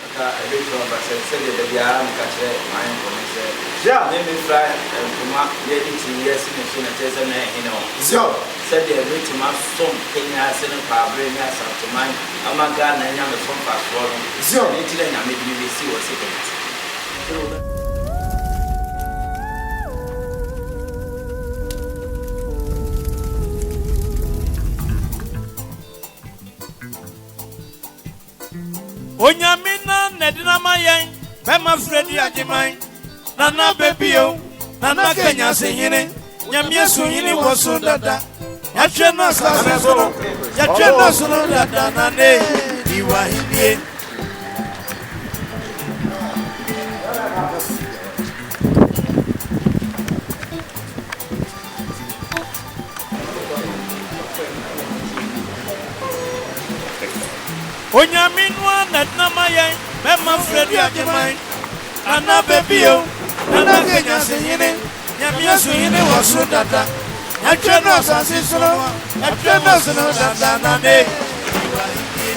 Anka ebetumi aba sɛ, sɛdeɛ da biara meka kyerɛ m'ayɔnkoɔ no sɛ, Zion! Me mefira ntoma yɛ ne ti yɛ sene so na kyerɛ sɛ mɛyɛ hene wɔ. Zion! Sɛdeɛ mɛtumi asom Kenya ase ne Kwabre ne Asanteman ama Ghana anya me so mfasoɔ no, Zion! ɛno nti na Nyame de me bɛsi wɔ Security. Onyame na n'adina ma yɛn. Bɛma frɛ di agyeman. Nana bɛbio, Nana kanyase hene. Nyamea so hene wɔ so dada. Yɛatwɛ no asase so no. Yɛatwɛ no soro dada Nana e, di w'ahenie. Onyame no ara na dena ma yɛn Mɛma Freddie Agyeman Nana bɛbie o Nana Kenya se hene Nyame asu hene wɔ soro dada Ɛtwɛ no asase so no Ɛtwɛ no ase no dada Nana e Ewura henie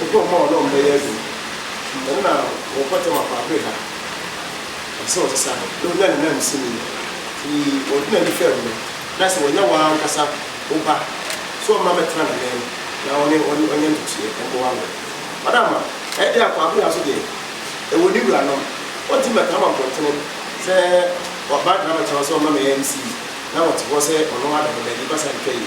Wɔkɔ mma wɔn a wɔbɛyɛ adwuma. Dɛm na wɔkɔ tɛm akoabere ha. Ɔpɛ sɛ ɔsesa no, na onya ne nan sini. Nti ɔde n'ani fam no, na sɛ wɔnyɛ w'ankasa wo ba, sɛ ɔmma mmɛtena ne nan mu na ɔne wo nyɛ ntotoeɛ mmoa wo. Madam, ɛyɛ dɛn akoabere ha nso deɛ, ɛwɔ ne wuranom. Wɔntumi mmɛtena wɔ mpɔntene sɛ wɔaba abɛtena hɔ sɛ wɔmma me NC, na wɔte hɔ sɛ wɔnom adɔkɔdade basa ntwa yi.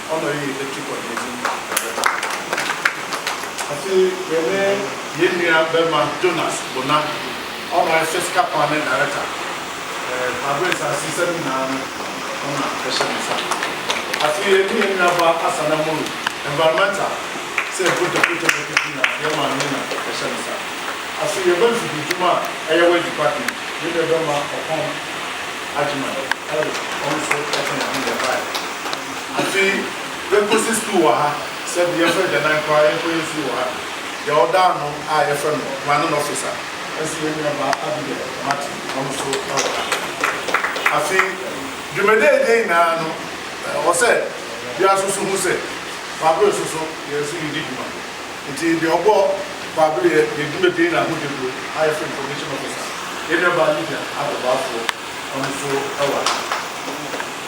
ɔnɔ yi etu kɔ n'enyim dɛmara. Afei yɛne hɛn nua bɛrma Jonas Bona, ɔnɔ ayɛ sɛ sika kwan ne daɛrɛta. Kwaabena Asase sɛm nyinaa no ɔna ɛhyɛ ne nsa. Afei yɛne hɛn nua ba Asan Amoru, environmental, sɛ eputa puta ne keke nyinaa hɛn maame na ɛhyɛ ne nsa. Afei yɛn ba mfidie dwuma a ɛyɛ waste department, yɛn nua bɛrma Ɔpɔn Agyeman, ɔno so ɛka hɛn ho na yɛbaeɛ. Afei yɛkɔsi sukuu wɔ ha, sɛbi yɛfrɛ agyanan koraa yɛnkɔyɛ fie wɔ ha. Deɛ ɔda ano a yɛfrɛ no planning officer nso yɛn nuabaa Abigail Martin, ɔno nso wɔ ha. Afei dwumadie a yɛdi nyinaa no, ɛwɔ sɛ biara nso so hu sɛ Kwabere nso so yɛn nso yɛdi dwuma. Nti deɛ ɔbɔ Kwabere yɛ yɛn dwumadie nyinaa ho dawuro a yɛfrɛ no information officer, yɛn nuabaa Lydia Adɔbafoɔ, ɔno nso wɔ ha.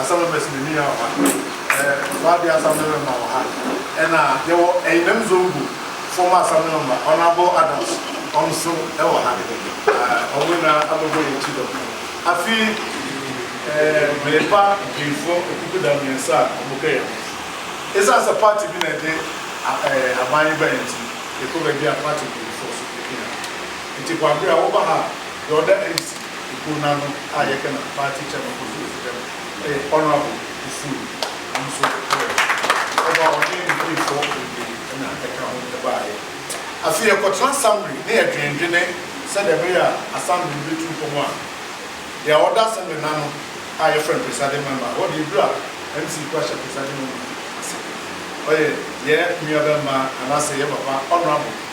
Asɛm no bɛsi n'ani yɛ ɔha. Ɛ, wɔ adeɛ asɛm no mema wɔ ha. Ɛna yɛwɔ Ɛyinam Zongo foɔ mo asɛm no mema, Honourable Adams, wɔn nso wɔ ha. Ɛ, wɔn nyinaa abɛbɔ yɛn ti dɔm. Afi, ɛ, merepa mpanyinfoɔ nkukuda mmiɛnsa a wɔhwɛ yɛn ho. Ɛsiane sɛ party bi na ɛde, a, ɛ, aban yi baeɛ nti, yɛkɔ baabi a party mpanyinfoɔ nso ka yɛn ho. Nti Kwabere a, woba ha a, deɛ ɔda NC, Ekuo no ano a yɛfrɛ no Party Chairman kɔ so si dɛm yɛ Honourable Osuo, ɔno nso ɔyɛ ɔba a ɔne ne mpanyinfoɔ bebree na ɛka ho baeɛ. Afei yɛkɔtena Assembly na yɛdwendwene sɛdeɛ ɛbɛyɛ a Assembly no bɛtu mpɔn a deɛ ɔda Assembly no ano a yɛfrɛ no Presiding Member, hɔ deɛ ɛduru a MC nko ara hyɛ Presiding Member ase, ɔyɛ yɛ nuabɛmma anaasɛ yɛ papa Honourable.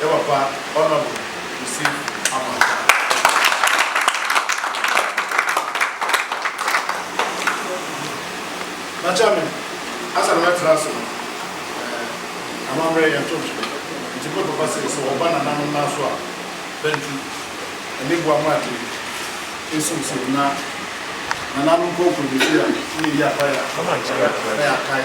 Yɛ papa Honourable Kwesi Amoatah. Fakyɛ me, ansa na mɛtra ase no, eh, amammerɛ yɛnto nhwe. Nti me papa se, sɛ wɔba nananom nan so a, bɛntu. Ɛne boa ma ade nsiw siw na nananom kɔ nkɔdidi a, ne yɛyi apae a, na yɛakae.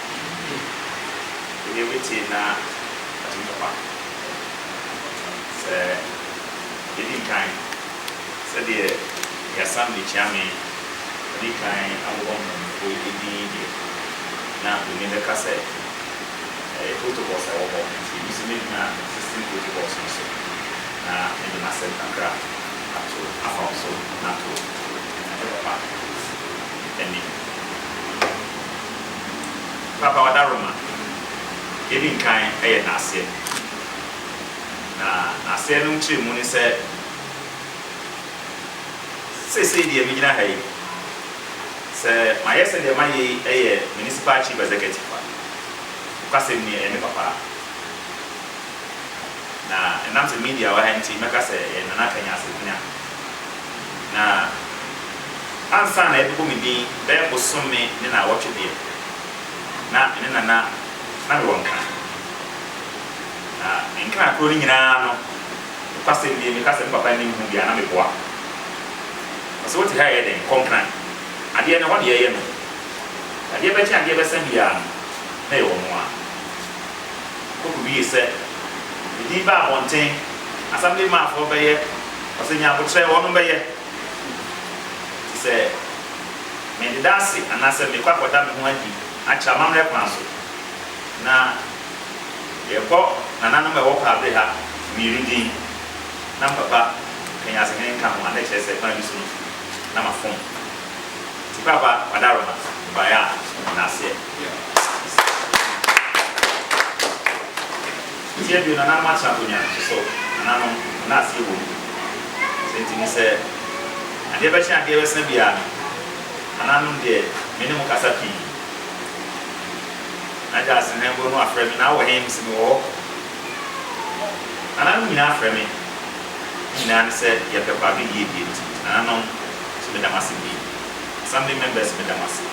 Hmmm wei obi tee na watim papa sɛ yɛdi nkan sɛdeɛ Yasam de Kyeame adi kan abobɔ mpanyinfoɔ yi din yi deɛ na w'ani bɛka sɛ ɛyɛ protocols a ɛwɔ hɔ nti me nso mɛgyina existing protocols no so na mede m'asɛm kakra ato afa wo so na ato ɛne papa anim. Krataa a ɔda Roma deɛ edi nkan yɛ n'aseɛ, na n'aseɛ no nkyerɛmu ne sɛ, Seesei deɛ megyina ha yi, sɛ mayɛ sɛ deɛ mayɛ yi yɛ Municipal Chief Executive a, nokwasɛm ni, ɛyɛ me papa. Na ɛnam sɛ media wɔ ha nti, mɛka sɛ ɛyɛ Nana Kanya Asɛdina. Na ansa na ɛbɛbɔ me din bɛyɛ bosome ne naawɔtwe deɛ, na me ne Nana na mewɔ nka. Na me nka koro no nyinaa no, nokwasɛm nie, meka sɛ me papa nnim ho bi a, na meboa. Ɔse, wote ha ɛyɛ dɛn? Kɔ Nkran. Adeɛ no, ɛhɔ na yɛyɛ no. Adeɛ bɛkye, adeɛ bɛsa biara no, na ɛyɛ wɔn ara. Okowiee sɛ, Edin baa abɔnten, Assembly man foɔ bɛyɛ, ɔsɛnyi abotrɛ wɔnom bɛyɛ. Nti sɛ me deda ase anaasɛ mekɔ akɔda me ho adi akyerɛ amammerɛ kwan so, na yɛbɔ nananom a ɛwɔ Kwabre ha mmienu din, na mpapa Kanyasehene nka ho a, na ɛkyerɛ sɛ kwan bi so no na mafom. Nti papa Kwadaroma, mebaeɛ a, meda aseɛ. Mfeɛ aduonu anaa March na akonnwa no sosɔ nananom na aseɛ wɔ mu. Sɛ nti no sɛ adeɛ bɛkye adeɛ bɛsa biara no, nananom deɛ me ne mo kasa pii. Na Gyasi na mbo no afrɛ me na wɔ he? Mese mewɔ hɔ. Nananom nyinaa frɛ me. Ne nyinaa ne sɛ yɛpɛ kwaado yiedie nti. Nananom, nso meda mo ase bi. Assembly members meda mo ase.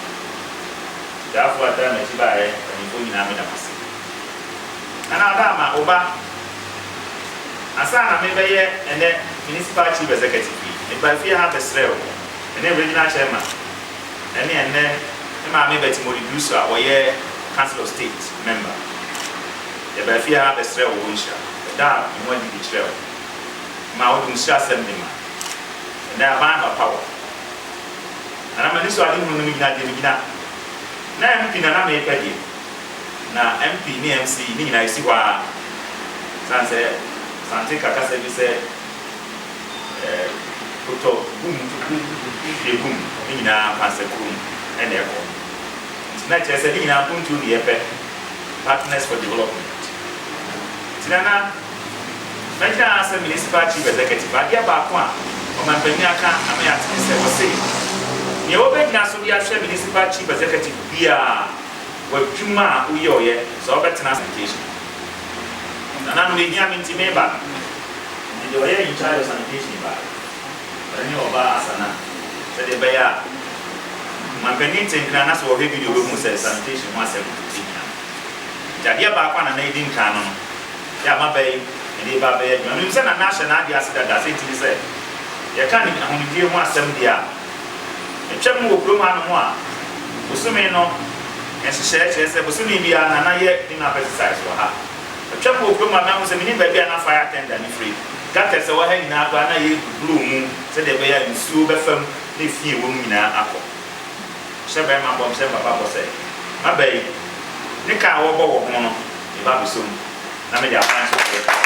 Ɔdaafo a ɔtaa m'akyi baeɛ, mpanimfoɔ nyinaa meda mo ase. Nana Ada ama wo ba. Ansa na merebɛyɛ ɛnnɛ Municipal Chief Executive yi, mebaa fie ha bɛsrɛɛ wo, me ne Regional Chairman ne ɛnnɛ me maame Betty Mori Dusu a ɔyɛ Council of State Member, yɛbaa fie ha bɛsrɛɛ wo wo nhyira. Yɛdaa yɛn ho adi de kyerɛɛ wo ma wode wo nhyirasɛm de ma. Ɛnnɛ aban anɔpa wɔ. Na na m'ani sɔ adehunu no mu gyina deɛ megyina. Na MP na na mepɛ deɛ. Na MP ne MC ne nyinaa ɛsi hɔ ara. Ɛsiane sɛ Asante ka kasa bi sɛ eh, kotɔ gum to gum to hwie gum ne nyinaa akwansakuro mu na ɛkɔ. Nti na ɛkyerɛ sɛ ne nyinaa mpuntuo ne yɛpɛ, partners for development. Nti na na. Mɛka ara sɛ Municipal Chief Executive, adeɛ baako a ɔmanpanin aka ama yɛate ne sɛ ɔse, Nea wobɛgyina so de ahwɛ Municipal Chief Executive biara w'adwuma a woyɔeɛ sɛ ɔbɛtena ase Sanitation. Nananom, ɛhia me nti meba. Nti deɛ ɔyɛ in charge of Sanitation baa, ɔno ne ɔbaa Asana, sɛdeɛ ɛbɛyɛ a ɔmanpanin te nkran na sɛ ɔhwɛ video ɔbɛhunu sɛ Sanitation ho asɛm ɛhia no. Nti adeɛ baako a Nana ɛdi nkan no no, Yɛ a maba yi, mede reba abɛyɛ adwuma. Minim sɛ Nana ahyɛ n'ade ase dada, sɛ nti ne sɛ, yɛka ne ahonidie ho asɛm deɛ a, metwam wɔ kurom hanom a, bosome no nhyehyɛeɛ kyerɛ sɛ bosome biara Nana yɛ Dinap exercise wɔ ha. Metwam wɔ kurom a, mahu sɛ mennim baabi a na fire attender no firi. Gutters a ɛwɔ ha nyinaa koraa, na yɛrebuburoo mu sɛdeɛ ɛbɛyɛ a nsuo bɛfa mu na efi a ɛwɔ mu nyinaa akɔ. Hyɛ bɛrima bɔ nkyerɛ papa bɔ sɛ, M'aba yi, ne ka a wɔbɔ wɔ ho no, me ba bɛsɔ mu, na mede aban nso na yɛka ho.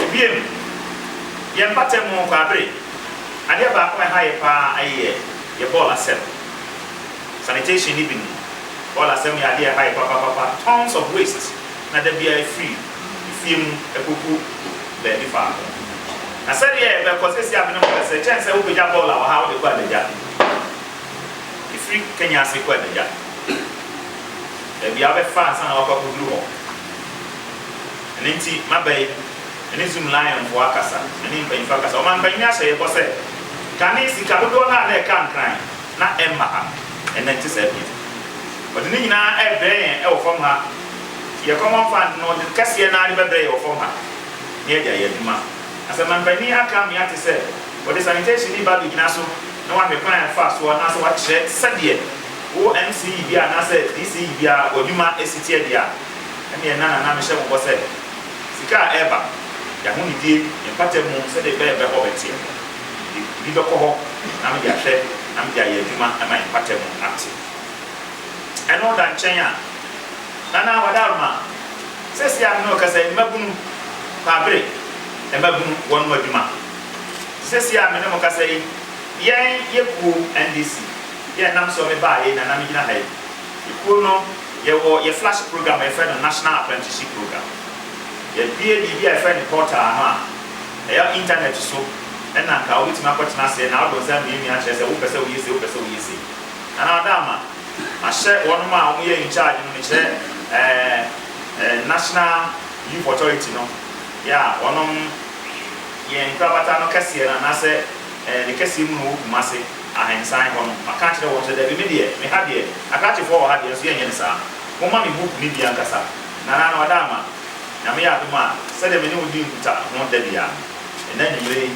Ebiem, yɛn mpata mu Kwaabere, adeɛ baako a ɛha yɛ pa ara yɛ yɛ bɔɔl asɛm. Sanitation ne bi no, bɔɔl asɛm yɛ adeɛ a ɛha yɛ papapapa, tons of waste na da biara ɛfiri. fie mu kogu baabi faako. Na sɛdeɛ ɛbɛkɔ seesei a me ne mo rekasa yi, kyɛn sɛ wobɛgya bɔɔl a wɔ ha wode kɔ adagya, ɛfiri Kenya ase kɔ adagya, baabi a wobɛfa ansa na woakɔ akɔduru hɔ. Ɛno nti, maba yi, me ne Zung Lionfoɔ akasa, me ne mpanyinfoɔ akasa. Ɔmampanyin ahyɛ yɛn bɔ sɛ, kane sika dodoɔ no a na ɛka Nkran na ɛmma ha, ɛnnɛ ɛnte saa bio. Ɔde ne nyinaa rebrɛ yɛn wɔ fam ha. Yɛ common fund no de kɛseɛ no ara de bɛbrɛ yɛ wɔ fam ha na yɛde ayɛ adwuma. Asɛmampanin aka me ate sɛ wɔde sanitationni ba bɛgyina so na wahwɛ kwan a ɛfa soɔ anaasɛ wakyerɛ sɛdeɛ wo MCE biara anaasɛ DCE biara w'adwuma si teɛ deɛ a, ɛnneɛ na Nana mehyɛ mo bɔ sɛ sika a ɛreba, yɛ ahonidie, yɛ mpata mu sɛdeɛ ɛbɛyɛ bɛ hɔ bɛteɛ no, mede bi bɛkɔ hɔ na mede ahwɛ na mede ayɛ adwuma ma yɛ mpata mu ate. Ɛno da nkyɛn a, Nana Wadarma, seesei a me ne wo rekasa yi, mmabunu, Kwaabere, mmabunu, wɔnom adwuma. Seesei a me ne mo rekasa yi, yɛn, yɛ kuo, NDC, yɛ nam soɔ me baa yei na na me gyina ha yi. Yɛ kuo no, yɛ wɔ yɛ flash program a yɛ frɛ no National Apprenticeship Program. Yɛ bue biribi a yɛ frɛ no portal ano a, ɛyɛ internet so ɛna nka wo bɛtumi akɔ tena aseɛ na wo de wo nsa amiamia akyerɛ sɛ wo pɛ sɛ wo yɛ sei, wo pɛ sɛ wo yɛ sei. Anaa ɔda ama ahyɛ wɔnom a wɔyɛ in charge no, mekyerɛ ɛɛɛ National Youth Authority no, yɛ a wɔnom yɛ nkorabata no kɛseɛ no anaasɛ ɛɛɛ ne kɛseɛ mu no wɔ Kumase, Ahensan hɔ no, maka akyerɛ wɔn sɛ dabi me deɛ, me ha deɛ, Akrakyefoɔ wɔ ha deɛ nso yɛnyɛ no saa. Momma me book no bi ankasa. Nana Anaa ɔda ama Nyame yɛ adom a, sɛdeɛ me ne wo di nkutaho da biara no, ɛnnɛ anwumerɛ yi,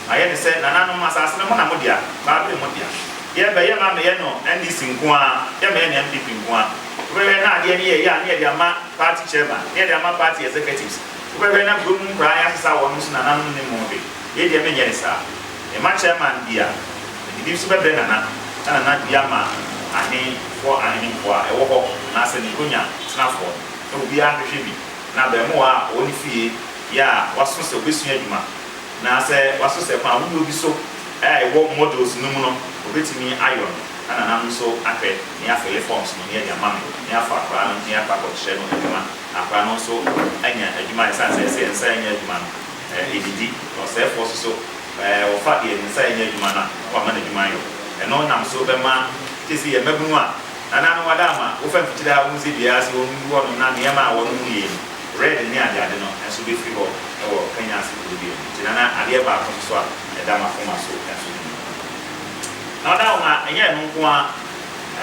Ayɛ te sɛ nananom asase no mo na mo dea, baa bere mo dea. Yɛ bɛ, yɛ ma meyɛ no NDC nko ara, yɛ meyɛ no NPP nko ara. Wo bɛ hwɛ na adeɛ no yɛ yɛ a ne yɛde ama party chairman, ne yɛde ama party executives. Wo bɛ hwɛ na kuro mu nkwadaa yɛ asesa wɔn ho so nananom nnim ho hwee. Yɛ deɛ me nyɛ ne saa. Me ma chairman dea, me de bi nso bɛ brɛ nana, na nana dua ma ahe foɔ ahene nkoa a ɛwɔ hɔ anaasɛ ne nkonya tenafoɔ no. Na obiara hwehwɛ bi, na abɛɛmoa a ɔwɔ ne fie yɛ a waso sɛ ɔbɛ sua adwuma. Na sɛ wɔasosɛ kwan ahorow bi so a ɛwɔ modules no mu no, wobetumi ayɔ no na nananom nso ahwɛ ne afele forms no ne adi ama me ne afa akwadaa no ne akɔ akɔkyerɛ no adwuma na akwadaa no nso anya adwuma esiane sɛ ɛsɛ yɛn nsa anya adwuma no edidi na ɔsɛefoɔ nso so wɔfa deɛ ne nsa anya adwuma no a na wama n'adwuma ayɔ ɛno nam so bɛma sese yɛ mmabunu a nananom ada ama wofa mfikyire a wonsi dua ase wɔn gu hɔ nom na nneɛma a wɔnom yie no Red ne adeade no nso bɛfiri hɔ wɔ Kenya ase kuro bio. Nti na na adeɛ baako nso so a ɛda m'akoma so nso ho hia. Na ɔda hɔ ma ɛnyɛ ɛno nko ara,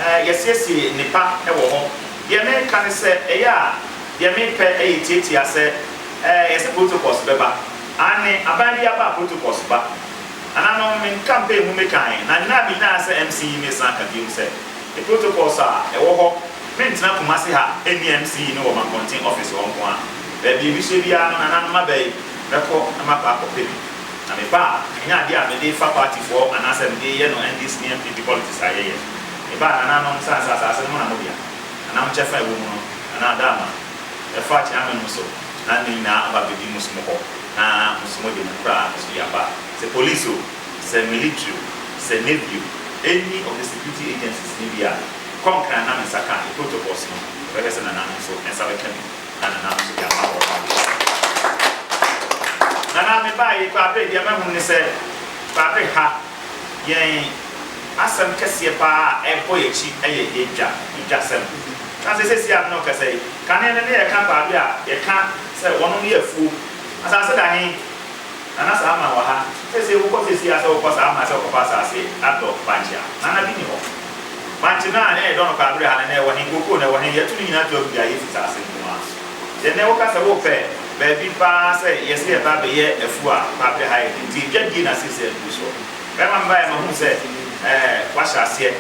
eh, yɛasiesie nnepa wɔ hɔ. Deɛ mereka ne sɛ, ɛyɛ a deɛ mepɛ yɛ tiatia sɛ, eh, yɛse protocols bɛba. Aane, aban biara ba a protocols ba. Nananom, me nkampeen mu mekaeɛ, na nna a menyaeɛ sɛ MC yi mesan ka biom sɛ, Protocols a ɛwɔ hɔ Mentena Kumasi ha nni MC ne wɔ Mankɔnten office hɔ nko ara. Baabi a mehyɛ biara no nananom aba yi bɛkɔ na makɔ akɔpɛ bi. Na meba a ɛnyɛ adeɛ a mede fa partyfoɔ anaasɛ mede reyɛ no NDC ne NPP politics a yɛyɛ. Meba a nananom sane sɛ asaase no mo na mo dea. Nanam kyɛfa a ɛwɔ mu no Nana Adama ɛfa Kyeame no so na ne nyinaa aba abɛdi mo som hɔ na mo som de mo kura nso de aba. Sɛ police o. Sɛ military o, sɛ navy o, any of the security agencies no bi a, kɔ nkran na me nsa ka ade, protocols no, ɛbɛhwɛ sɛ Nana no nso nsa bɛka bi na Nana no nso de ama wɔn a wɔhyɛ no. Nana, mebaa yi, Kwabere, deɛ mahunu ne sɛ, Kwabere ha, yɛn asɛm kɛseɛ pa ara a ɛbɔ yɛn akyi yɛ yɛn dwa, yɛn dwasɛm. Na sɛ seesei a me ne wo kasa yi, kane no ne yɛka Kwabere a, yɛka sɛ wɔnom yɛ afuo. Asase da he? Nana saa ma wɔ ha sɛsɛɛ wokɔ sɛsɛɛ a sɛ wokɔ saa ma sɛ wokɔ fa asaase adɔ bankye a Nana bi ni hɔ bankye no a na yɛdɔ no paa bere ha no na ɛwɔ he kookoo na ɛwɔ he yɛto no nyinaa to agu dwa yɛsi saase nko ara so deɛ nɛ woka sɛ wopɛ baabi paa sɛ yɛse yɛba bɛyɛ afuo a paa bere ha yɛ den nti edwa die na sɛsɛɛ aduru soɔ bɛma me baeɛ mahunu sɛ ɛɛ wahyɛ aseɛ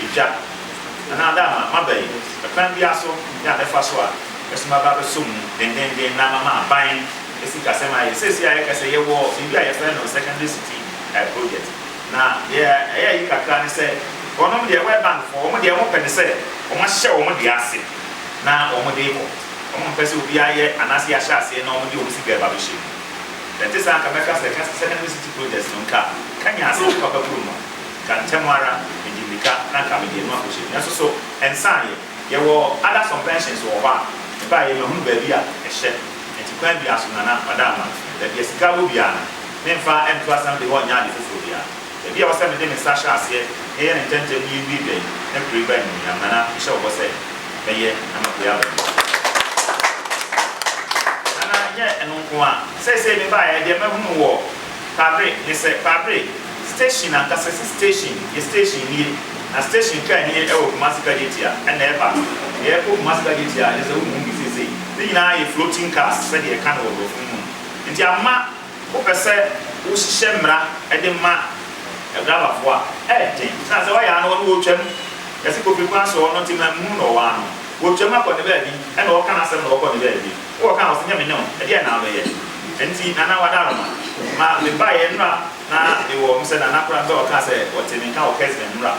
edwa Nana ada ama maba yi ɛkwan biara so ne a mɛfa so a. mɛsoma aba abɛsɔ mu dendeenden na mama aban sikasɛm ayɛ. Seesei a yɛka sɛ yɛwɔ biribi a yɛfrɛ no secondary city project, na deɛ ɛyɛ ayi kakra ne sɛ wɔnom deɛ, World Bank foɔ, wɔn deɛ wɔpɛ ne sɛ wɔahyɛ wɔn deɛ ase na wɔde rekɔ. Wɔmpɛ sɛ obiara yɛ anaasɛ yɛahyɛ aseɛ na wɔde wɔn sika reba abɛhyɛ mu. Sɛ ɛnte saa a, nka mɛka sɛ secondary city project no nka kanya asase papa kuro no a, nka ntɛm ara mede mmirika na nka mede no akɔhyɛ mu. Nanso so ɛnsaeɛ? Yɛwɔ other some pensions wɔ hɔ a ɛbaa yɛ mahunu baabi a ɛhyɛ nti kwan biara so Nana Kwada Amah baabi a sika wɔ biara no me mfa nto assembly hɔ nyɛ ade foforɔ biara baabi a ɛwɔ sɛ mede me nsa hyɛ aseɛ na yɛyɛ no ntɛntɛm na yɛwie dwa yi na kuro yi ba animuonyam Nana mehyɛ wo bɔ sɛ mɛyɛ na mabue aba mu. Nana ɛnyɛ ɛno nko ara seisei me baeɛ deɛ mahunu wɔ Kwadre ne sɛ Kwadre. Station ankasase station yɛ station nie na station car nie ɛwɔ Kumasi Kajetia ɛna ɛba deɛ ɛkɔ Kumasi Kajetia a kyɛsɛ wohu bi seisei ne nyinaa yɛ floating cars sɛdeɛ ɛka no wɔ brɔfo no mu no nti ama wo pɛ sɛ wo hyehyɛ mmra ɛde ma driver foɔ a ɛyɛ den ɛsiane sɛ ɔyɛ a no ɔno ɔtwam yɛse Kofi Kwanso ɔno nti ma nhunu no ɔwɔ a no ɔtwam akɔ ne baabi ɛna ɔka nasɛm na ɔkɔ ne baabi. Ewɔ ka a ɔse nyɛ me nyaw ɛdeɛn na wobɛyɛ ɛnti nana wada no ma ma me baeɛ nnura na mewɔ ɔm sɛ nana kora mpɛ ɔkaa sɛ ɔte me nka wɔ kɛsmɛ nnura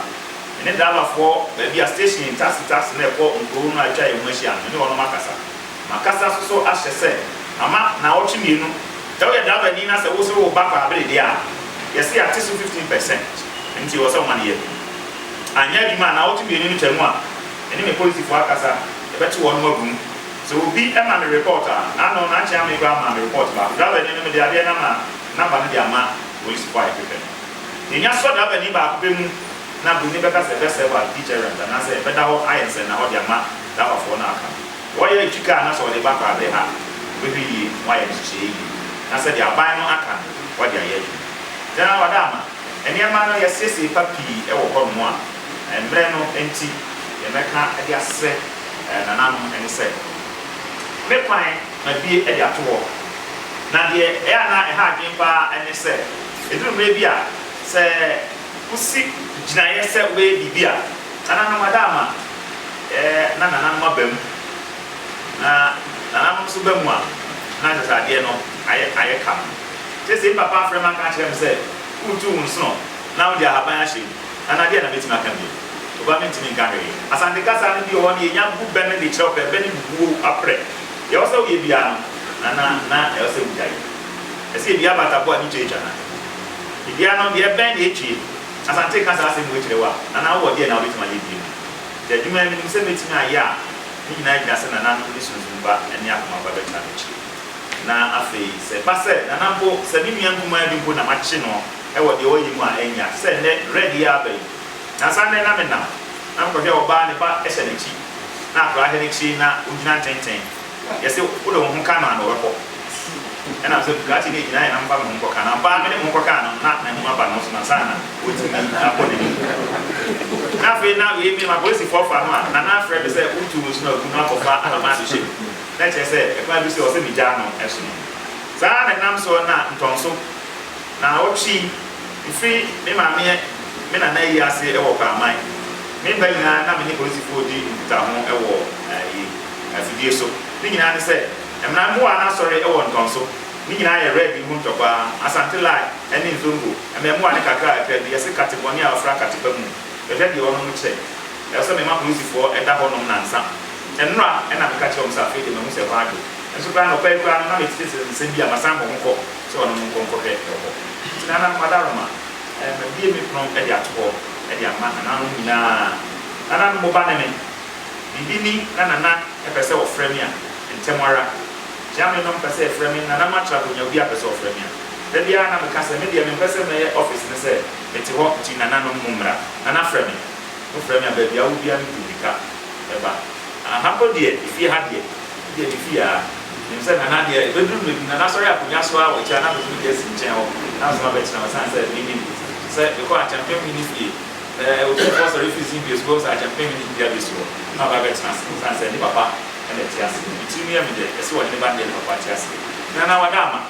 me ne driver foɔ baabi a station taxi taxi no ɛkɔ nkuro no a atwa yɛn ho ahyia no me ne wɔnom akasa makasa nso so ahyɛ sɛ mama naawɔtwe mmienu sɛ woyɛ driver ni na sɛ wo sere wo ba kɔ abere deɛ a yɛse yɛate so 15 percent ɛnti ɛwɔ sɛ woma no yɛ anyɛ adwuma a naawɔtwe mmienu no twa mu a me ne me polisifoɔ akasa yɛbɛkye wɔnom agu mu. Sɛ obi ma me report a, n'ano na nkyɛ ame koraa maa me report baako. Driver ni no, mede adeɛ no ama number no de ama polisifo a yɛhwehwɛ no. Yɛnya sɔ driver ni baako pɛ mu na buroni bɛka sɛ ɛbɛ serve as deterrent anaasɛ ɛbɛda hɔ ayɛ nsɛnnahɔ de ama driver foɔ no aka. Wɔyɛ retwi car na sɛ ɔde ba koraa bɛ ha wɔbɛhwɛ yie na wɔayɛ nhyehyɛeɛ yie na sɛdeɛ aban no aka no wɔde ayɛ adwuma. General Wadama. Nneɛma no, yɛasiesie pa pii wɔ hɔnom a mmerɛ no nti yɛbɛka de asrɛ nananom ne sɛ, Me kwan mabue de ato hɔ, na deɛ ɛyɛ a na ɛha adwene pa ara ne sɛ, ɛduru mmerɛ bi a sɛ wosi gyinaeɛ sɛ wobɛyɛ biribi a, nananom ada ama na nananom aba mu, na nananom nso ba mu a, na kyerɛ sɛ adeɛ no ayɛ kama. Kyerɛ sɛ, me papa afrɛ me aka akyerɛ me sɛ, Woretu wo nsono na wode ahaban ahyɛ mu, na na deɛn na mɛtumi aka bio? Oba mentumi nka hwee. Asante kasa no bi wɔ hɔ no, yɛnya gu bɛ no de kyerɛw pɛ, bɛ ne bubuo aprɛ. Deɛ ɛwɔ sɛ woyɛ biara no, na na na ɛwɔ sɛ wogyae yɛ. Ɛsɛ yɛbie abataboɔ a ne twa atwa no a, yɛbia no, deɛ ɛbɛn na ɛtwie. Asante ka saa asɛm wei kyerɛ wo a, na na wowɔ deɛn a wobɛtumi ayɛ bio? Hwɛ, adwuma a menim sɛ mɛtumi ayɛ a, ne nyinaa gyina sɛ nananom de sunsum pa ne akoma pa bɛtra m'akyire. Na afei, sɛ ɛba sɛ, Nana mpo, sɛ me nua nkumaa bi mpo na makye no wɔ deɛ ɔyɛ mu a, ɛnyɛ a, sɛ nnɛ, Red yi ara aba yi, nansa nnɛ na menam, na mekɔhwɛ ɔbaa a ne ba hyɛ n'akyi, na akwadaa hyɛ n'akyi, na ɔgyina ntenten. Yɛse, Wode wo ho ka no a, na ɔbɛkɔ. Ɛnam sɛ Bugatti no gyinaeɛ na memfa me ho nkɔka no, ampa ara mede me ho kɔkaa no no, na n'anim aba ne ho so, nansa na watumi akɔ n'anim. Na afei, na wei, me, m'apolisifoɔ fa no a, Nana frɛ me sɛ, Wotu wo nsono agu na woakɔfa Alabaa abɛhyɛ mu. na ɛkyerɛ sɛ ɛkwan bi so ɔsɛ migyaa no ɛhye no. Saa ara na ɛnam soɔ na ntɔnso na ɔtwi mfiri me maameɛ me nana ayi ase wɔ Kwaaman. Me mba nyinaa na me ne polisifoɔ di nkutaho wɔ ayi afidie so. Ne nyinaa ne sɛ ɛmena mmoa na asɔre wɔ ntɔnso. Ne nyinaa yɛ red yi ho ntɔkwa. Asante line ɛne nzongo mmɛmoa ne kakra kakra bi yɛse kate bɔne a ɔfra kate pa mu. Bɛhwɛ deɛ ɔnom kyɛ. Ɛwɔ sɛ mema polisifoɔ da hɔ nom nansa. Nnora na meka kyerɛ wɔn sɛ afei deɛ mahu sɛ ɛhɔ adwo. Nso koraa anɔpa yi koraa no na mete te nsɛm bi a masan akɔ ho kɔ sɛ wɔne mo nkɔ nkɔhwɛ wɔ hɔ. Nti Nana, Madaroma, mabue me pono de ato hɔ de ama nananom nyinaa. Nananom mo ba ne me. Biribi ni na Nana pɛ sɛ ɔfrɛ me a, ntɛm ara. Gyame nom pɛ sɛ yɛfrɛ me, Nana matra hɔ nya obiara pɛ sɛ ɔfrɛ me a. Da biara na meka sɛ me deɛ mempɛ sɛ mɛyɛ office no sɛ mete hɔ nti nananom mo mmra. Nana frɛ me. Wofrɛ me a baabi a wodua no gu mirika ba. Ah ha mpo deɛ efie ha deɛ wodeɛ me fie aa Menim sɛ Nana deɛ bɛduru mɛgu Nana sɔre akonnwa so aa Wɔkyɛ a na mɛtumi de asi nkyɛn hɔ na nso mabɛkyena wo Ɛsiane sɛ menim sɛ mekɔ Akyɛmpenhene fie ɛɛ Otumfoɔ sɔre firi Zimbie so Wobɛhu sɛ Akyɛmpenhene dua bi soɔ na ɔba bɛtena ase Ɛsiane sɛ ne papa na ɛte aseɛ Me tirim yɛ me dɛ ɛse ɔhene ba no deɛ ne papa te aseɛ Nana wada ama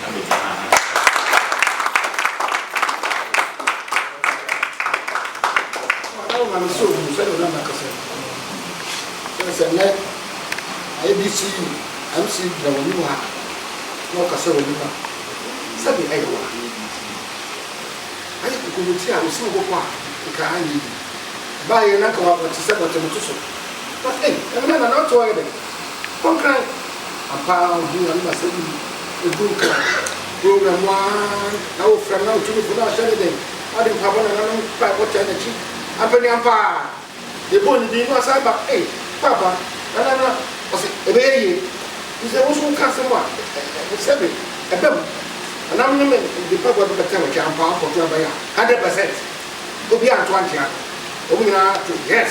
na mede bɛdi dwuma. Madam Maame sɛ ɔhunu sɛdeɛ na makasa yi. Sɛ sɛ nnɛ IEBC MC gyina w'anim ha na ɔkasa w'anim a, sɛdeɛ ɛyɛ wɔ ha no bi nti no. Ayɛ kokomoti a ɔsi wo bɔkɔ a, nka anyɛ yie. Ɛbaeɛ na nka w'abɔ te sɛ bɔtɛmtoso. Na ei, ɛnnɛ Nana Otto ayɛ dɛn? Ɔkae. Ampa ara ohuu Nyame na asɛm yi eduu kan kurow no mu ara na wofrɛ no na otumifo no ahyɛ no den. Ade mpaebɔ na nananom mpaebɔ taa n'akyi ampa ni ampa ara. Yebɔɔ ne din na ɔsan ba ei papa nana na ɔse ɛbɛyɛ yie nti sɛ wo nso woka asɛm a sɛbe ɛbam. Nananom ne me de mpaebɔ bɛbɛ tɛm atwa ampa ara kɔto aban a hundred percent obiara anto ankyea no wɔn nyinaa to yes.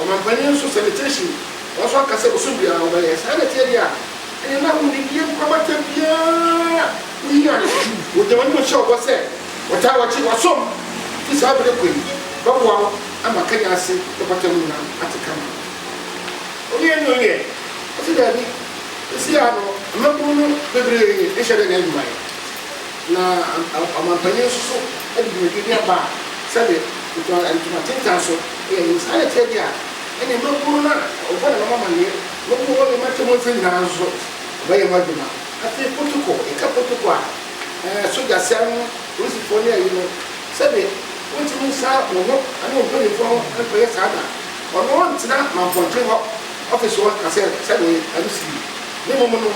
Ɔmampanyin nso sɛ ne tiri hye mu, nanso ɔka sɛ bosoom biara wɔbɛyɛ. Saa na ɛteɛ deɛ a, ɛneɛ na wonni deɛ nkwa bata biara. Woyi ade, wɔgya wɔn anim hyɛ wo bɔ sɛ wɔtaa wɔkye, wɔsom. Fi saa bere kɔ yi, bɛboa wo ama Kenya ase bɛpata mu na ate kama. Owie ne owie? Ɔse daabi. Seesei ara no, mmabunu no bebree nhyɛ da nyɛ adwuma yɛ. Na ɔmampanyin nso so de dwumadie bi aba a sɛdeɛ ɔgyina ntoma tentan so yɛ no. Saa na ɛteɛ deɛ a, ɛnneɛ mmabunu no a wɔbɔ nananom amanneɛ na wɔwɔ hɔ yɛ mo atemmu mfeɛ nyinaa nso so, wɔbɛyɛ mo adwuma. Afei potoko, yɛka potoko a, ɛɛ sogyaseɛ no, polisifoɔ ne ayi no, sɛdeɛ wontumi nsa wo ho ne wo mpanimfoɔ ho nkɔyɛ saa da, ɔno ntena manpɔnkye hɔ ɔfese hɔ nka sɛ sɛdeɛ ɛno si yi. Ne mmom no,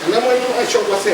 ɛnam ɛno hyɛ wo bɔ sɛ.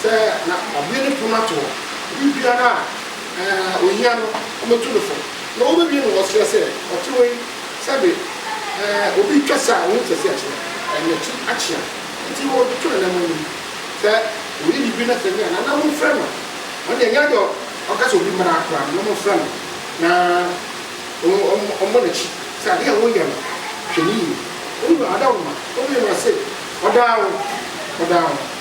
Sɛ na wabue ne pon ato hɔ, biribiara a ohia no, wɔbɛtu no fo, na wɔbɛbue no wɔ ɔsrɛ sɛ, Ɔte wei? Sɛbe obi retwa se a ɔho sɛ se akyerɛ, ɛɛ n'akyi akyea, nti na ɔde to n'anamɔn no mu. Sɛ ɔyɛ biribi na sɛ nyɛ a, nana monfrɛ no. Ɔno deɛ, ɛnyɛ adeɛ a ɔka sɛ obi mmra ara koraa, nana monfrɛ no na ɔmmɔ n'akyi. Sɛ adeɛ a woreyɛ no, hwɛ no yie. Wo wura, ɔda wo ma? Wobue no, ɔse, Ɔdaa wo, ɔdaa wo.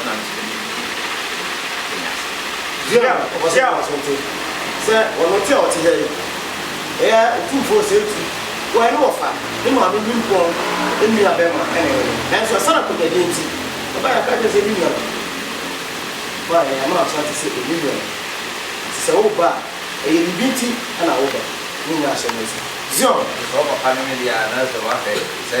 Ɔnam ne tumi nti na yɛwɔ yi ase. Dua a ɔbɔ so wɔ asonte sɛ ɔno te a ɔte ha yi yɛ Otumfoɔ Osei-Tutu. Wɔyɛ ne wɔfa, ne maame nimpɔn nua bɛma na ɛyɛ no. Nanso asiane akwanyadeɛ nti, ɛbae a yɛka kyerɛ no sɛ me nua no maa yɛn ama Asante sɛ ɛnyɛ nua no. Enti sɛ woba a, ɛyɛ biribi nti na woba. Ne nyinaa hyɛ me nsa. Zion. Sɛ ɔpapa no ne deɛ a, na sɛ wahwɛ sɛ.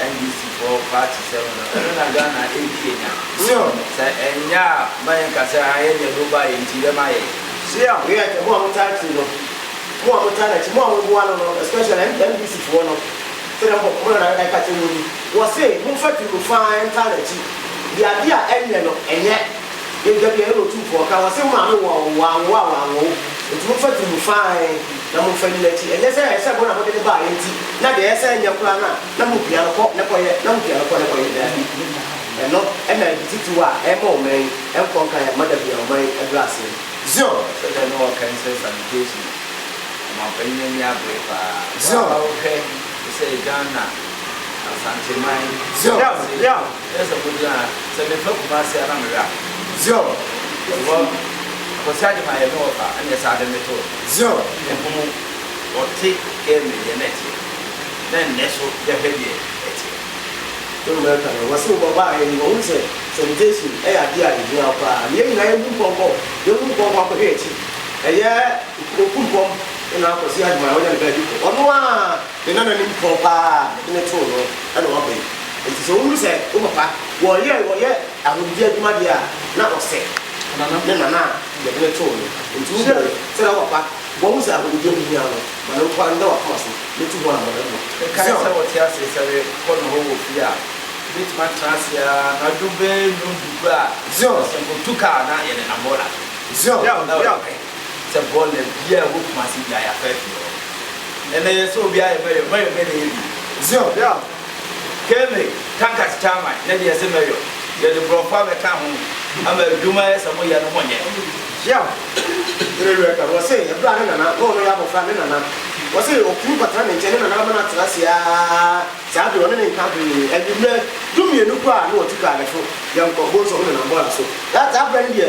NDC foɔ party sɛm no ɛno na Ghana ɛdi anya sɛ ɛnyɛ a ma yɛn ka sɛ ayɛ deɛ ɛde wo baeɛ nti dɛm ayɛ. Sir we are mo a mo taa tiri no mo a mo taa nakyi mo a mo boa no no especially NDC foɔ no sɛdeɛ mo mo nana ɛka kyerɛ mo ni wɔse mo nfa tiri no faa ntaa nakyi deɛ adeɛ a ɛnyɛ no ɛnyɛ. Yɛagya deɛ ɛne Otumfoɔ ka, ɔse mo maame wɔ wo, wanwo a wanwo wo, enti momfa di mu fann na momfa nni n'akyi, ɛnyɛ sɛ ɛyɛ sɛ mo na mode no baeɛ nti na deɛ ɛyɛ sɛ ɛnyɛ koraa no a na mopia no kɔ na kɔyɛ, na mopia no kɔ na kɔyɛ, daabi, ɛno na ade titiriw a ɛrema ɔman yi nkɔ nkan mma da biara, ɔman yi aduru ase no, Zion. Sɛ dɛn na wɔka ne sɛ salutation no ɔmanpanyin ani abere paa, wo a wohwɛ te sɛ Ghana, Asanteman, Kumase. Kyerɛ sɛ mo gyina ha sɛ me fɛ kumase a na me wɛ a zion wɔ akwasi agye ma yɛ me wɔ fa ɛne ɛsa adɛ me to zion me hunu wɔ te kɛ me deɛ na ɛteɛ na nnɛ so yɛ hwɛ deɛ ɛteɛ. Wo no mɛka no wɔse wobɔ baa yɛ ni wɔ hunu sɛ sɛ me jesu ɛyɛ adeɛ a yɛ gyina hɔ koraa na yɛ nyina yɛ hu mpɔmpɔ yɛ hu mpɔmpɔ akɔ hwɛ akyi ɛyɛ oku mpɔm ɛna akwasi agye ma yɛ wɔ nyɛ ne bɛ bi kɔ ɔno aa. Ne nananom pɔw paa a mede no too no na wɔbɛn, enti sɛ wohu sɛ wo papa wɔyɛ wɔyɛ ahodwiri adwuma deɛ a, na wɔsɛ ne nana a yɛde no too no. Enti wo bere sɛdeɛ wo papa wahu sɛ ahodwiri ho hia no, ma no nkɔ nna w'akoma so, metu ho anamɔn mmɔ. Mekae sɛ wɔte ase sɛ mekɔ nohɔ wɔ fie a, yɛbɛtumi atena ase ara anadwo bɛyɛ nnɔndudu a, Zion! ɔsɛ nkɔtu kaa na yɛnenam hɔ ara. Zion! Yɛn! Yɛn! Sɛ bɔ na bia ɛwɔ kumase bia yafa afie hɔ ɛnɛ yɛ sɛ obi ayɛ mɛyɔ mɛyɔ dɛ na yɛ bi. Zion yeah Kemi tankas chairman ne deɛ se mɛyɔ yɛde brɔfo abɛka ho ama adwuma ayɛ sɛ mo yɛ no mo nyɛ. Yeah yere werɛ ka wɔse ɛberɛ a ne nana na ɔno yɛ abɔfra ne nana wɔse ɔtumi kɔtena ne nkyɛn ne nana ama no atena ase aa saa bere ɔne ne nka hwee anwummerɛ du mmienu po a na ɔtu kaa ne so yɛnkɔ bonsom ne nana bɔɔla so that saa berɛ no deɛ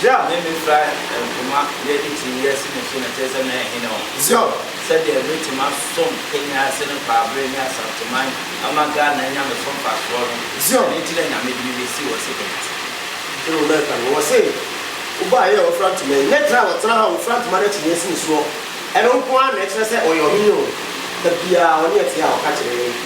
Bere a me mefra nhoma yɛ ne ti yɛ si me so na kyerɛ sɛ me yɛ hene wɔ. Zion. Sɛdeɛ me te ma som kenya ase ne kwaabere ne asanteman ama Ghana anya me so mfasoɔ no. Zion. Ɛno nti na Nyame de me bɛsi wɔ se kenya ase. Ɛna ɔma ɛka no wɔ se wo baa yɛ ɔfra ntoma yi ne tena a ɔtena ha ɔfra ntoma no akyinnye si ne soɔ ɛno nko ara na ɛkyerɛ sɛ ɔyɛ ɔhene oo da biara ɔne ɛte a ɔka kyerɛ yɛn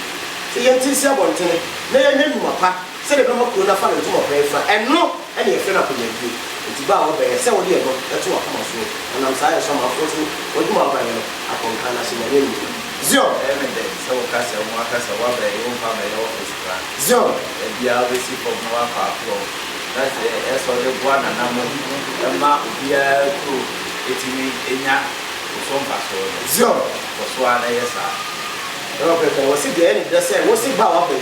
sɛ yɛnte nsi abɔntene na yɛnyɛ nnwuma pa. Sɛdeɛ ɛbɛma kuro no afa no ntom ɔpɛn fa, ɛno na yɛfrɛ no akonyabie. Enti bɛ a wɔbɛn, ɛsɛ wode ɛno to w'akoma soɔ, na nam saa yɛ so ama afoɔ so wɔadum w'aban no akɔ nkan no ase, Nyame animuonyam. Zion! Ɛyɛ me dɛ sɛ woka sɛ wo aka sɛ woabɛn, wo mfa abɛyɛ office koraa. Zion! Baabi a wobɛsi fam na woakɔ akorɔ, na sɛ ɛyɛ sɛ wode boa nananom ma obiara kuro tumi nya wo so mfasoɔ no, Zion! kɔ so ara na yɛ saa. Nokorɛ pɛ, wɔse deɛ ɛyɛ ne dɛ sɛ wose bɛ a wɔabɛn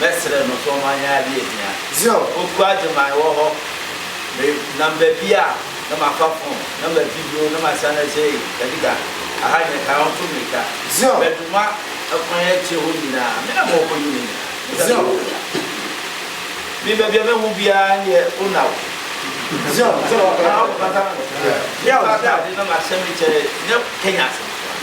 mɛsrɛ no tɔ ma yɛn ade ahia. Oku agye man wɔ hɔ. Me nam baabi a na ma fa phone na ma di bio na ma san na sɛ ei Kadika aha nyɛ kan ɔnto mirika bɛ duma ɛkwan akyire hɔ nyinaa me na ma ɔkɔ yi me nyina me sɛ me wɔ ya me baabi a mɛ hu biara neɛ ona wo ɔbata me no me ba atade na ma hyɛ me kyɛ nyɛ Kenya asɛm koraa.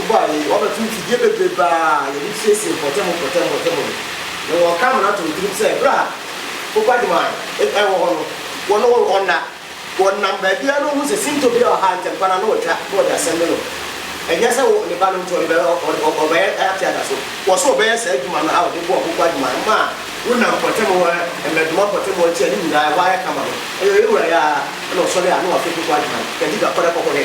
Ɔbɔ a yɛyɛ, wɔabɛto mfidie bebrebe a yɛde siesie mpɔtam mpɔtam mpɔtam no, na wɔreka ama no ato wo tirim sɛ berɛ a Popa de mae wɔ hɔ no, wɔn wɔ hɔ nna. Wɔnam baabiara na wɔhu sɛ sintɔ bi wɔ ha ntɛmpa no ara na wɔatwa na wɔde asɛm no no. Ɛnyɛ sɛ wo, ne ba no nti ɔde ɔde ɔbɛyɛ ate ada so. Wɔ sɛ ɔbɛyɛ saa adwuma no a wɔde boa Popa de mae ma a wonam mpɔtam hɔ mmɛdoma mpɔtam hɔ akyi a ne nyinaa ɛhɔ ayɛ kama no. Ɛyɛ ɔyɛ wura yi ara na ɔsɔre a na wafe Popa de mae. Kadiga kɔdɛ kɔkɔdɛ.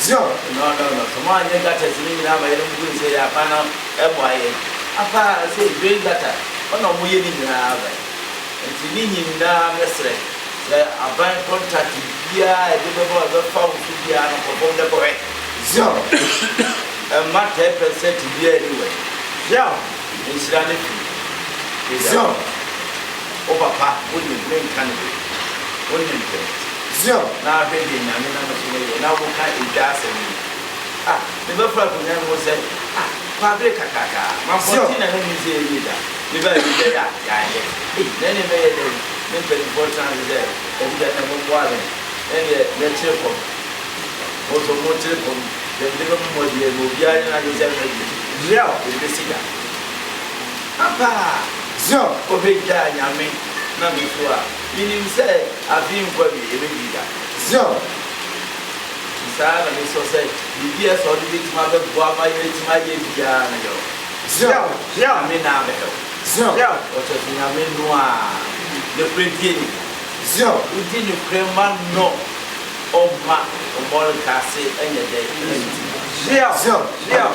Zion. No no no sɛ moanyɛ gutters no nyinaa ma yɛn no mobɛhu sɛ yɛn akwan no mmoa yɛn apa ara sei drain gutter hɔ na wɔyɛ ne nyinaa ma yɛn nti ne nyinaa mɛsrɛ sɛ aban contact biara a ɛde bɛma ɛbɛfa wo so biara no kɔ fam na kɔhwɛ Zion mma tɛɛ pɛsɛt biara nni wɔ yɛn Zion nhyira no firi Zion. Wo papa wo de me nka no baby Wo ne ntɛm Zion na hwɛ deɛ Nyame nam me so no yɛ na wo ka edwa asɛm yi Ah me bɛ foro akonya no mu sɛ ah Kɔ abere kakraka ah Ma mpɔnten na ne mu sɛ yɛ wie da Me bɛ awie dɛ ya ya yɛ ei Na ɛne bɛ yɛ dɛn Me mpaninfoɔ tra ase sɛ Dabi da nɛ mo mmoa awɛn Nɛ deɛ nɛ kyere fam Mo nso mo nkyere fam Deɛ me de bɛ mo mmɔ deɛ Ma obiara nyɛ n'adwene sɛ ɛno na ɛbɛ si Zion ɛbɛ si da. Ampa a, sɛ obegyaa Nyame na me so a, minim sɛ afei nkɔ awiei ebedui da. Zion, Nti saa na mesɔ sɛ biribi a sɛ ɔde betumi abɛboa ma yɛatumi ayɛ biara no yɛ o. Zion, Zion, Nyame na abɛhwɛ wo. Zion, Zion, Ɔkyerɛ sɛ Nyame no a nokorɛ die ne mu. Zion, Wodi nokorɛ ma no, ɔmma ɔmmɔreka ase nyɛ dɛ nsi. Zion, Zion, Zion.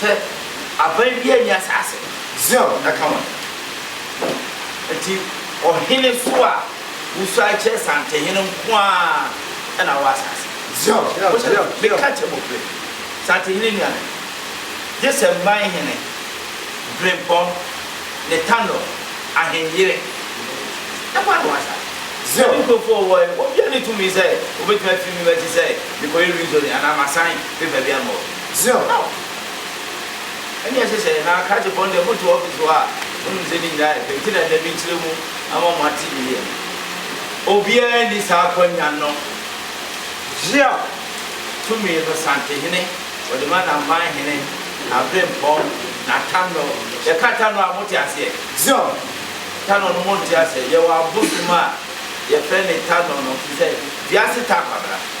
Sɛ aban biara nni asaase no. Zion na ka wɔn. Enti ɔhene so a wosuae kyerɛ Santehene nko ara na ɔwɔ asaase. Zion, meka kyerɛ mɔfrɛ yi, Santehene nuanom, gye sɛ mman hene, Birempɔn, Netanel, Ahenyere, nko ara na ɔwɔ asaase. Zion. Me nkurɔfoɔ a wɔwɔ he, wɔn biara nni tumi sɛ wɔbɛtumi afiri me akyi sɛ mekɔyɛ rezoning anaa masan paper biara ma wɔn. Zion. Aw! Ɛnde ɛsɛ sɛ na krakye bɔ ndɛ moto office hɔ a monim sɛ ne nyinaa yɛ pɛ nti na ndɛ menkyerɛ mu ama mo ate yiye no. Obiara nni saa akwanya no. Zion. Tumi no Santehene ɔde ma n'amanhene, n'abrempɔn, n'atano. Yɛka atano a mote aseɛ? Zion. Tano no monte aseɛ? Yɛwɔ abosom a yɛfrɛ no tano no te sɛ wiase ta kwabena.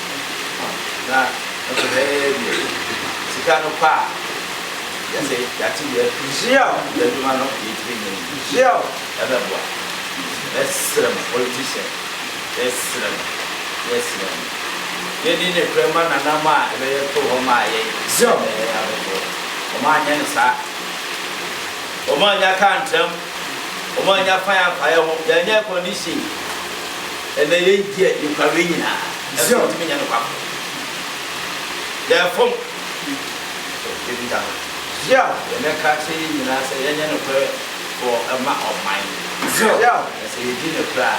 na nso bɛyɛ deɛ sika no kɔ a yɛsɛ yɛate deɛ Israel yɛ adwuma no yɛtumi nyɛ no Israel ɛbɛboa yɛsrɛ mo politician yɛsrɛ mo yɛsrɛ mo yɛni ne korɛ ma nanam a ɛbɛyɛ to hɔ ma yɛ Israel na yɛyɛ abɛboɔ wɔn anyɛ ne saa wɔn anya kaa ntram wɔannya kwan ampae ho, yɛannya air condition, ɛnna yɛn gye a yɛkura wei nyinaa nso yɛntumi nyɛ no kwan. Yɛfom. Ebi da hɔ. Yɛn bɛka akyerɛ yɛn nyinaa sɛ yɛnyɛ nokorɛ wɔ ɛma ɔman. Na sɛ yɛdi nokorɛ a,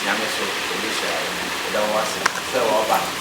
Nyame nso ɔbɛhyira yɛn. Yɛda wo ase sɛ wɔaba.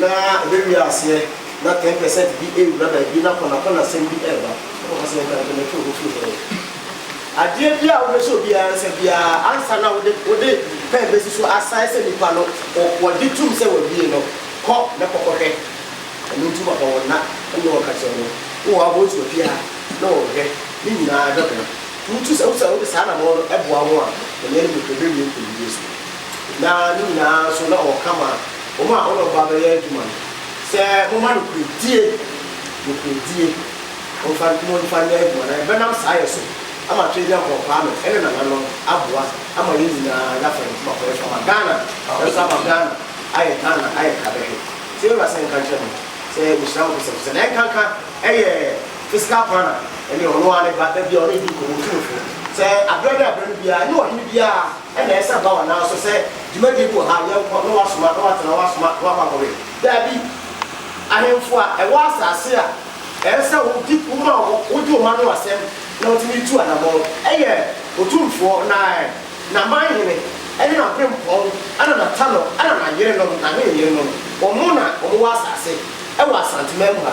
na ɛbɛwie aseɛ na ten percent bi ɛrewura baabi na kɔnakɔnasɛm bi ɛreba, wobɛkɔ sɛ yɛka no pɛ na ɛfiri hɔ firi hɔ. Adeɛ biara a wobɛhyɛ obiara nsa biara ansa na wode wode pɛn bɛsi so asae sɛ nipa no wɔgye tom sɛ wawie no, kɔ na kɔkɔhwɛ. Ɛno nti wɔma wɔn nna na wɔka kyerɛ wɔn wɔ wɔn abɔnsowa fie ha na wɔhwɛ, ne nyinaa bɛboa. Nti wotu sɛ wode saa anammɔn no boa wɔn a, onua no bɛhwɛ, ɛbɛwie nkonimdie so. na ne nyinaa nso na ɔka ma wɔn a wɔne ɔba bɛyɛ adwuma no sɛ, Momma nokorɛdie, nokorɛdie, momfa, momfa nyɛ adwuma, na yɛbɛnam saa yɛ so ama Tweagyampɔn Kwame ne nananom aboa ama yɛn nyinaa yɛafa yɛn nkumaa kɔ, yɛso ama Ghana, yɛso ama Ghana ayɛ Ghana ayɛ kabɛhwɛ. Sɛ yɛwura sɛ nka nkyerɛ mo sɛ mehyira mo kɛsɛ kɛsɛ, na nka nka ɛyɛ fiscal planner ne ɔno ara ne ba, da biara ɔne yɛdi nkɔmmɔ, ɔtu me fo sɛ aberɛ ne aberɛ no biara ɛnyɛ ɔhene biara Ɛna ɛsɛ ba wɔn nan so sɛ dwumadie bi wɔ ha, yɛ nkɔ, na wɔasoma, na wɔatena, na wɔasoma, na wɔakɔ akɔwe. Daabi. Ahemfo a ɛwɔ asase a ɛsɛ sɛ wodi, woma wɔ, wogye wɔn ano asɛm na wɔtumi tu anamɔn, ɛyɛ Otumfoɔ, na, n'amanhene, ɛne n'abempɔn, ɛna n'atanɔ, ɛna n'ayerenom, n'ahenyeyerenom, wɔn na wɔwɔ asase, ɛwɔ Asanteman mu ha.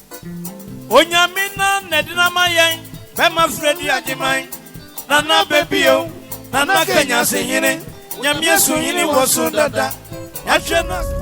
Onyame na nɛdena ma yɛn. Bɛma frɛ di agyeman. Nana bɛbie o. Nana kanyase hene. Nyamea su hene wɔ so dada. Yahwɛ no a.